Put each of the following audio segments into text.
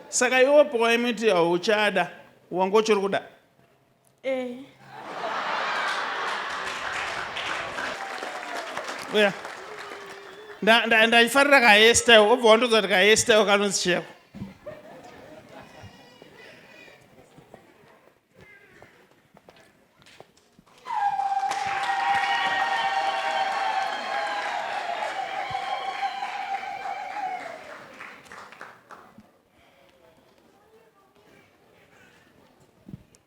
Saka iwe pawaimiti hauchada wanga uchiri kuda? Eh. Uya. Nda- nda- Ndaifarira kahairstyle obva wandodza kuti kahairstyle kanonzi cheko.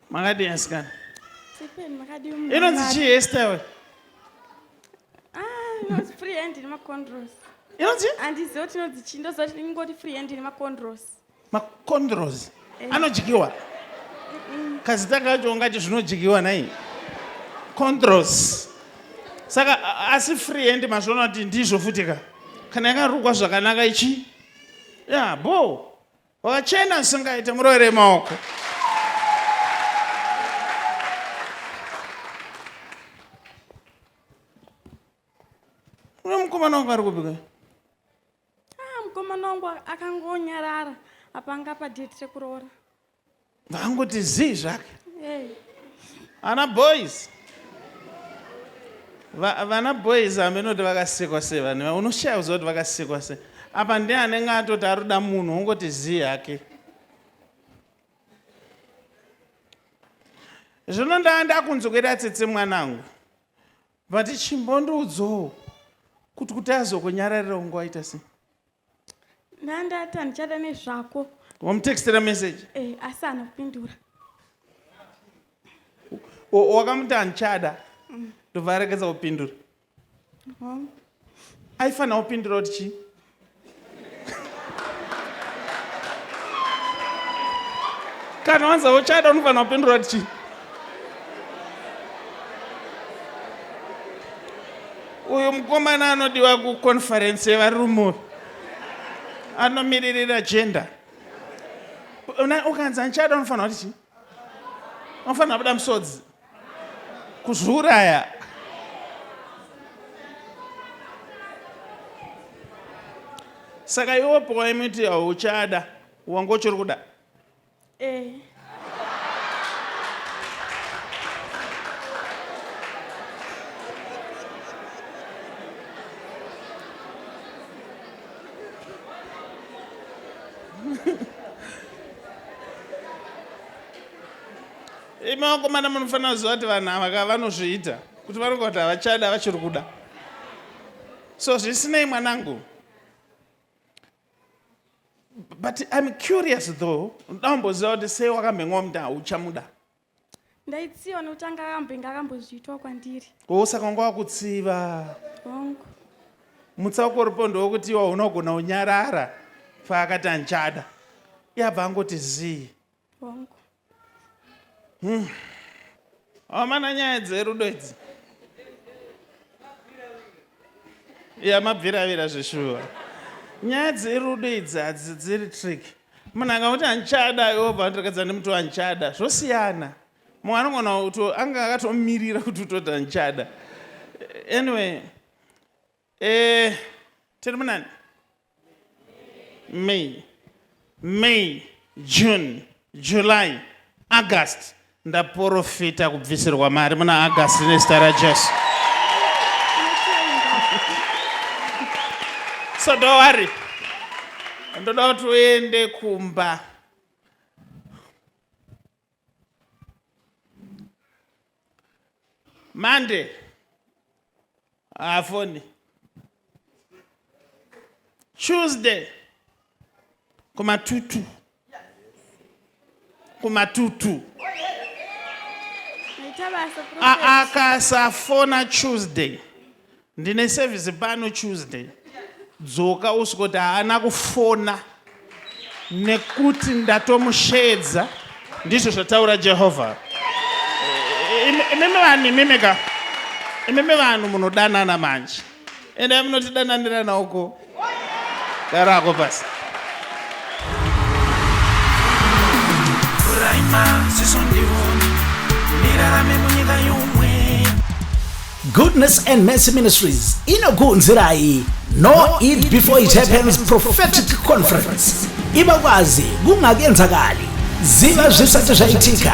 makadii asikana inonzi chii hestyle inonzi chii ndozoingoti free hand nemacondros Makondros eh. anodyiwa kazita kacho ungati zvinodyiwa nai condros saka asi free hand mazviona kuti ndizvo futi ka kana yakarukwa zvakanaka ichi ya bo wakachena usingaite murovere maoko uno mukomana wangu ari kupika Ah, mukomana wangu akangonyarara apa anga pa date rekuroora. Vangoti zii zvake. Hey. Ana boys. Va, vana boys amenoti vakasikwa sei vanhu unoshaya kuziva kuti vakasikwa sei apa ndiye anenge atoti aruda munhu wongoti zii yake zvino ndaa ndakunzwa kuita tsitsi mwanangu Vati chimbondiudzowo kuti kuti azokonyararirawo nguva ita sei. Nandata ndichada nezvako. Wamutextera message? Eh, asi haana kupindura. O- Wakamuti handichada ndobva aregedza kupindura. Mom, Aifanira kupindura kuti chii? kana wanza uchada unofanira kupindura kuti chii uyu mukomana anodiwa kuconferensi yevarume anomiririra gender ukanzi andichada unofanira kuti chii unofanira kuda musodzi kuzviuraya saka iwo pawaimiti hauchada wanga uchiri kuda eh. Imi vakomana munofanira kuziva kuti vanhu ava ka vanozviita kuti vanonga kuti havachada vachiri kuda so zvisinei mwanangu but im curious though ndoda kumboziva kuti sei wakamhenwa muti hauchamuda ndaitsiva nokuti anga akambenge akambozviitwa kwandiri o saka wanga wakutsiva hongu mutsauko uripo ndowokuti iwa unogona unyarara faakati andichada yabva angoti zii Hongu. Hmm. Amana nyaya dzerudo idzi. Ya mabviravira zveshuwa. Nyaya dzerudo idzi hadzi dziri trick. Munhu angakuti andichada iwo bva ndirekadza nemuti wandichada. Zvosiyana. Mumwe anogona kuti anga akatomirira kuti utoti andichada. Anyway, Eh, tiri munani? May. May, June, July, August. Ndaporofita kubvisirwa mari muna August nezita raJesu. So don't worry. Ndoda kuti uende kumba. Monday haafoni. Tuesday kumatutu kumatutu akasafona Tuesday Ndine service pano Tuesday. Dzoka usvike kuti haana kufona nekuti ndatomusheedza, ndizvo zvataura Jehovha. Imimi vanhu imimi ka, imimi vanhu munodanana manje, endai munotidananirana uko. Darako basi. Goodness and Mercy Ministries inokuunzirai No Eat Before It Happens Prophetic Conference. Ibakwazi kungakenzakali. Ziva zvisati zvaitika.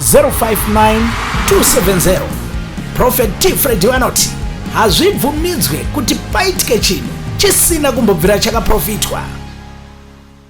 059270 prophet t fredi vanoti hazvibvumidzwe kuti paitike chinhu chisina kumbobvira chakaprofitwa